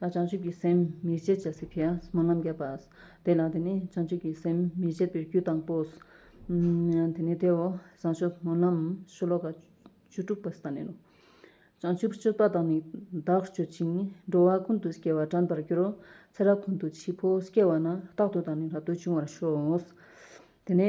ལ་བྱང་ཆུབ་ཀྱི་སེམས་མི་བསྐྱེད་ཅེས་ཟེར་གྱི། མ་རྣམས་བརྒྱད་པ། དེ་ལ་དེ་ནི་བྱང་ཆུབ་ཀྱི་སེམས་མི་བསྐྱེད་པའི་རྒྱུ་དང་པོའོ། དེ་ནི་དེའོ། བྱང་ཆུབ་མ་རྣམས་ཤོ་ལོ་ཀ་བཅུ་དྲུག་པ་ས་ནས་ནོ། བྱང་ཆུབ་སྤྱོད་པ་དང་ནི་བདག་སྤྱོད་ཅིང་འགྲོ་བ་ཀུན་དུ་སྐྱེ་བ་དྲན་པར་འགྱུར་རོ། ཚེ་རབས་ཀུན་དུ་འཆི་འཕོ་སྐྱེ་བ་ན་རྟག་ཏུ་དང་ནི་རབ་ཏུ་འབྱུང་བར་ཤོག། དེ་ནི།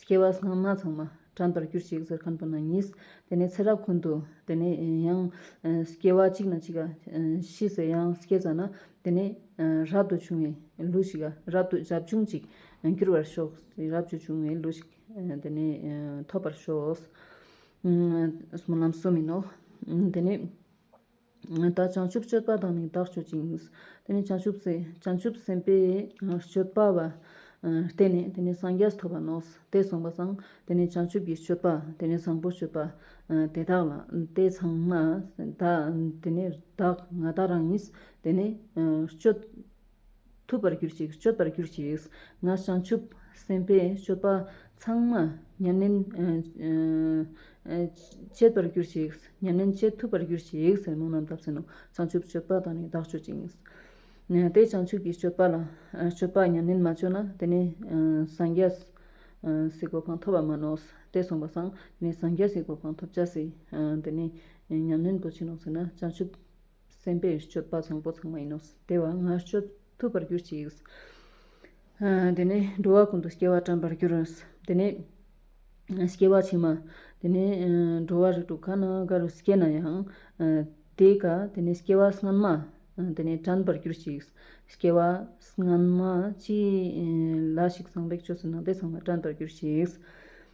སྐྱེ་བ་ཚང་མ་ཚང་མ་བྲམ་ཟར་གྱུར་ཅིག་ཟེར་གང་ཐུབ་ན་ཉིད། དེ་ནས་ཚེ་རབས་ཀུན་ཏུ་དེ་ནས་ཡང། སྐྱེ་བ་གཅིག་ན་གཅིག་ཤི་ཟེར་ཡང་སྐྱེ་ཙམ་ན། དེ་ནས་རབ་ཏུ་བྱུང་བའི་ལུས་ཤིག་རབ་ཏུ་བྱབ་ཆུང་ཅིག། གྱུར་པར་ཤོག། རབ་ཏུ་བྱུང་བའི་ལུས་ཤིག་དེ་ནས་ཐོབ་པར་ཤོག། ལམ་གསུམ་ཡིན་ནོ། དེ་ནས། ད་བྱང་ཆུབ་སྤྱོད་པ་དང་ནི་དག་སྤྱོད་ཅིང། དེ་ནས་བྱང་ཆུབ་སེམས་བྱང་ཆུབ་སེམས་དཔའི་སྤྱོད་པ། བརྟེན་ནས་དེ་ནས་སངས་རྒྱས་ཐོབ་པར་ནོངས་སོ། དེས་གསུངས་པ་དང། དེ་ནས་བྱང་ཆུབ་ཀྱི་སྤྱོད་པ། དེ་ནས་བཟང་པོའི་སྤྱོད་པ། དེ་དག་ལ་དེ་ཚང་མ། དེ་ནས་བདག་ང་དག་རང་ཉིད། དེ་ནས་སྤྱོད། ཐུབ་པར་གྱུར་ཅིག་སྤྱོད་པར་གྱུར་ཅིག། ང་བྱང་ཆུབ་སེམས་དཔའི་སྤྱོད་པ་ཚང་མ་མྱ་ངན་བྱེད་པར་གྱུར་ཅིག། མྱ་ངན་བྱེད་ཐུབ་པར་གྱུར་ཅིག་ཟེར་མོ་རྣམས་བཏབ་ཟིན་ནོ། བྱང་ཆུབ་སྤྱོད་པ་དང་ནི་བདག་སྤྱོད་ཅིང། དེས་བྱང་ཆུབ་ཀྱི་སྤྱོད་པ་ལ་སྤྱོད་པ་མྱ་ངན་མ་སྤྱོད་ན་དེ་ནི་སངས་རྒྱ་སིག་གོ་འཕང་ཐོབ་པར་མ་ནོགས། དེས་གསུངས་པ་སངས་རྒྱ་སིག་གོ་འཕང་ཐོབ་བྱ་སྲིད། དེ་ནི་མྱ་ངན་དུ་བྱིན་ནོ་ཟེར་ན་བྱང་ཆུབ། སེམས་དཔའི་སྤྱོད་པ་བཟང་པོ་ཚང་མ་ཡིན་ནོ། དེ་བ་ལྔ་སྤྱོད་ཐུབ་པར་གྱུར་ཅིག། དེ་ནས་འགྲོ་བ་ཀུན་ཏུ་སྐྱེ་བ་བཀྲམ་པར་གྱུར། དེ་ནས་སྐྱེ་བ་ཕྱི་མ། དེ་ནས་འགྲོ་བ་རིགས་དྲུག་གང་ན་འགའ་རུ་སྐྱེས་ན་ཡང། དེ་ཀ་དེ་ནས་སྐྱེ་བ་སྔོན་མ། དེ་ནས་བཀྲམ་པར་གྱུར་ཅིག། སྐྱེ་བ་སྔོན་མ་ཅི་ལ་ཞིག་ཚངས་པའི་ཆོས་སུ་སྣང་སྟེ་ཚང་མ་བཀྲམ་པར་གྱུར་ཅིག།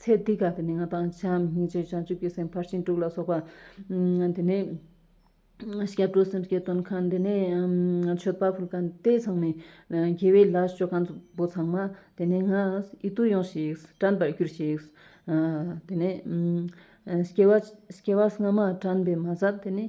ཚེ་འདི་ག་དུ་ནི་ང་དང་བྱམས་སྙིང་རྗེ་བྱང་ཆུབ་ཀྱི་སེམས་ཕར་ཕྱིན་དྲུག་ལ་སོགས་པ། དེ་ནས་སྐྱབས་འགྲོ་སེམས་བསྐྱེད་སྟོན་ཁང་དེ་ནས་མཆོད་པ་ཕུལ་ཁང་དེ་ཚང་མས། དགེ་བའི་ལས་སྤྱོད་ཁང་པོ་ཚང་མ་དེ་ནས་ང་ཨི་ཏུ་ཡོང་ཞིག་དྲན་པར་གྱུར་ཞིག། དེ་ནས་སྐྱེ་བ་སྔ་མ་དྲན་པའི་མ་ཟབ་དེ་ནས།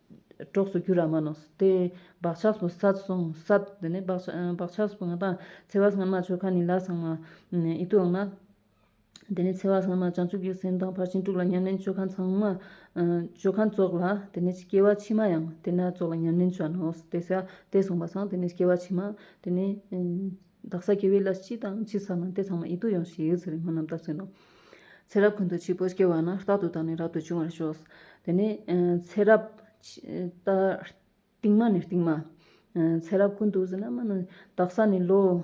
གྲོགས་སུ་གྱུར་ར་མ་ནོས། དེ་བག་ཆགས་སུ་ས་སོང་ས། དེ་ནས་བག་བག་ཆགས་སུ་ང་དང། འཚེ་བ་སྔ་མ་ཆོལ་ཁ་ནི་ལ་སང་མ། ཨི་ཏུ་འང་མ། དེ་ནས་འཚེ་བ་སྔ་མ་བྱང་ཆུབ་ཀྱི་སེམས་དང་ཕར་ཕྱིན་དྲུག་ལ་ཉམས་ལེན་ཆོལ་ཁ་ཚང་མ། ཆོལ་ཁ་ཙོག་ལ་དེ་ནས་སྐྱེ་བ་ཕྱི་མ་ཡང་དེ་ན་ཙོག་ལ་ཉམས་ལེན་བྱ་ནོས། དེ་ས་དེ་སོང་བ་སང་དེ་ནས་སྐྱེ་བ་ཕྱི་མ་དེ་ནས། བདག་ས་སྐྱེ་བའི་བླ་སྤྱི་དང་སྤྱི་ས་མ་འདས་ཚང་མ་ཡིད་དུ་ཡོང་ཞེས་ཡིད་ཚིམ་པའི་སྨོན་ལམ་རྟགས་མཚོན་ནོ། ཚེ་རབས་ཀུན་ཏུ་སྤྱི་བོར་སྐྱེ་བ་ན་རྟག་ཏུ་དང་ནི་རབ་ཏུ་འབྱུང་བར་ཤོག། དེ་ནས་ཚེ་རབས། རྟིང་མ་ནི་རྟིང་མ། ཚེ་རབས་ཀུན་ཏུ་ཟིན་ན་མ་ནི། བདག་ས་ནི་ལོ།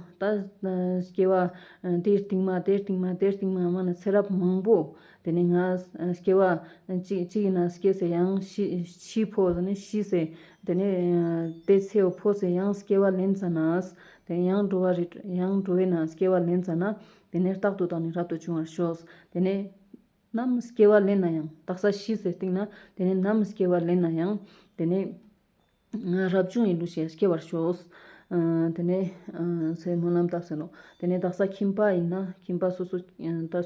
སྐྱེ་བ། དེའི་རྟིང་མ་དེའི་རྟིང་མ་དེའི་རྟིང་མ་མ་ནི་ཚེ་རབས་མང་པོ། དེ་ནས་ང། སྐྱེ་བ། གཅིག་ཡིན་ན་སྐྱེ་ཟེར་ཡང་ཕྱིས་ཕོ་ཟེར་ནས་ཕྱིས་ཟེར། དེ་ནས་དེ་ཚེའུ་ཕོ་ཟེར་ཡང་སྐྱེ་བ་ལན་ཙམ་ན། དེ་ཡང་འགྲོ་བ་རེད། ཡང་འགྲོ་བས་ན་སྐྱེ་བ་ལེན་ཙམ་ན། དེ་ནས་རྟག་ཏུ་དག་ནི་རབ་ཏུ་བྱུང་བར་ཤོག། དེ་ནས། ནམ་སྐྱེ་བ་ལེན་ན་ཡང། རྟག་ས་ཤི་ཟེར་སྟེང་ན། དེ་ནས་ནམ་སྐྱེ་བ་ལེན་ན་ཡང། དེ་ནས། རབ་བྱུང་ཡིན་ནོ་ཞེས་སྐྱེ་བར་ཤོག། དེ་ནས། མོ་རྣམས་དག་ཟེར་ནོ། དེ་ནས་དག་ས་ཁྱིམ་པ་ཡིན་ན། ཁྱིམ་པ་སོ་སོ་ལྟར།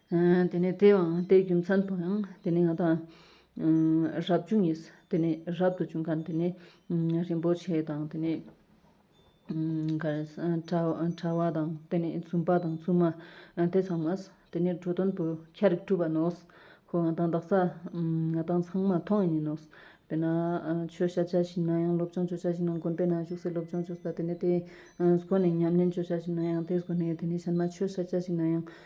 དེ་ནས་དེའང་དེའི་རྒྱུ་མཚན་དུ་ཡང་དེ་ནས་ང་དང། རབ་བྱུང་གིས་དེ་ནས་རབ་ཏུ་བྱུང་གང་དེ་ནས། རིན་པོ་ཆེ་དང་དེ་ནས། དྲ་བ་དང་དེ་ནས་བཙུན་པ་དང་བཙུན་མ་དེ་ཚང་མ། དེ་ནས་འགྲོ་དོན་དུ་ཁྱ་རིག་སྤྲུལ་པ་ནོ། ཁོང་ང་དང་བདག་ཅག་ང་དང་ཚང་མ་མཐོང་ཡིན་ནོ། དེ་ན་ཆོས་བཤད་བྱ་ཞིག་ན་ཡང་སློབ་སྦྱོང་བྱོས་བྱ་ཞིག་ན་དགོན་པའི་ནང་བཞུགས་སའི་སློབ་སྦྱོང་བྱོས་དེ་ནས་དེའི་སྒོ་ནས་ཉམས་ལེན་བྱོས་བྱ་ཞིག་ན་ཡང་དེའི་སྒོ་ནས་དེ་ནས་གཞན་མ་ཆོས་བཤད་བྱ་ཞིག་ན་ཡང་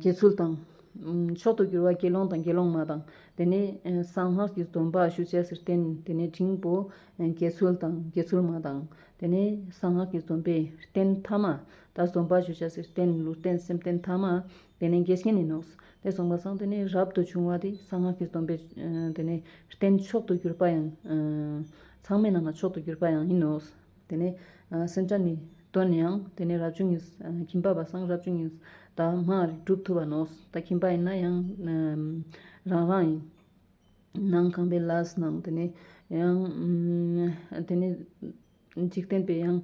དགེ་ཚུལ་དང། མཆོག་ཏུ་གྱུར་བ་དགེ་སློང་དང་དགེ་སློང་མ་དང། དེ་ནས་གསང་སྔགས་ཀྱི་སྡོམ་པ་ཞུ་བྱེད་ཟེར་བསྟན་དེ་ནས་འབྲིང་པོ་དགེ་ཚུལ་དང་དགེ་ཚུལ་མ་དང། དེ་ནས་གསང་སྔགས་ཀྱི་སྡོམ་པས་བསྟན་ཐ་མ། ད་སྡོམ་པ་ཞུ་བྱ་ཟེར་བསྟན་ལུས་རྟེན་སེམས་བསྟན་ཐ་མ། དེ་ནས་འགལ་རྐྱེན་ནི་ནོག། དེ་གསུངས་པ་སང་དེ་ནས་རབ་ཏུ་བྱུང་བ་དེ་གསང་སྔགས་ཀྱི་སྡོམ་པས་དེ་ནས་བསྟན་མཆོག་ཏུ་གྱུར་པ་ཡང། ཚང་མས་རྣམས་ལ་མཆོག་ཏུ་གྱུར་པ་ཡང་ཡིན་ནོ། དེ་ནས་སེམས་ཅན་ནི་གདོད་ནས་ཡང་དེ་ནས་རབ་བྱུང་ངེ་ཁྱིམ་པ་བ་སངས་རབ་བྱུང་ངེ་ད་སྔ་གྲུབ་ཐུབ་པ་ནོས་ད་ཁྱིམ་པ་ཡིན་ན་ཡང་རང་རང་ཡིན། ནང་གང་པའི་ལས་སྣང་དེ་ནས་ཡང་དེ་ནས་འཇིག་རྟེན་པའི་ཡང་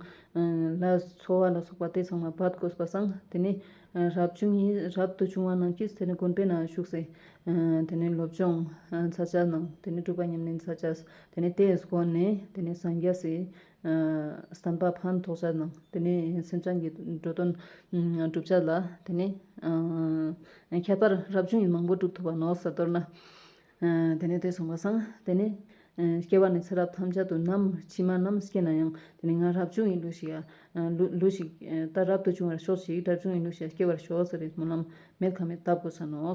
ལས་འཚོ་བ་ལ་སོགས་པ་དེ་ཚང་མ་བར་དགོས་པ་སངས་དེ་ནས་རབ་བྱུང་ངེ་རབ་ཏུ་བྱུང་བ་རྣམས་ཀྱིས་དེ་ནས་དགོན་པའི་ནང་ཞུགས་སའི་དེ་ནས་སློབ་སྦྱོང་ཚར་བཅད་གནང་དེ་ནས་སྒྲུབ་པ་ཉམས་ལེན་ཚར་བཅད་དེ་ནས་དེས་བསྐོར་ནས་དེ་ནས་སངས་རྒྱས་སུ་བསམ་པ་ཕ་མཐོ་ས་དང་དེ་ནས་སེམས་ཅན་གྱི་འགྲོ་དོན་བསྒྲུབ་བྱ་ལ་དེ་ནས་ཁྱད་པར་རབ་བྱུང་ཡི་མང་པོ་བསྒྲུབ་ཐུབ་པ་ནོར་ས་དོར་ན། དེ་ནས་དེས་གསུངས་པ་སངས་དེ་ནས་སྐྱེ་བ་ནས་ཚེ་རབས་ཐམས་ཅད་དུ་ནམ་ཕྱི་མ་རྣམས་སྐྱེ་ན་ཡང་དེ་ནས་ང་རབ་བྱུང་ཡི་ལུས་ཞིག་ད་རབ་ཏུ་བྱུང་བར་ཤོག་ཅིག་རབ་བྱུང་ཡི་ལུས་ཞིག་སྐྱེ་བར་ཤོག་ཟེར་བའི་སྨོན་ལམ་མེད་ཁ་མེད་བཏབ་དགོས་ས་ནོ།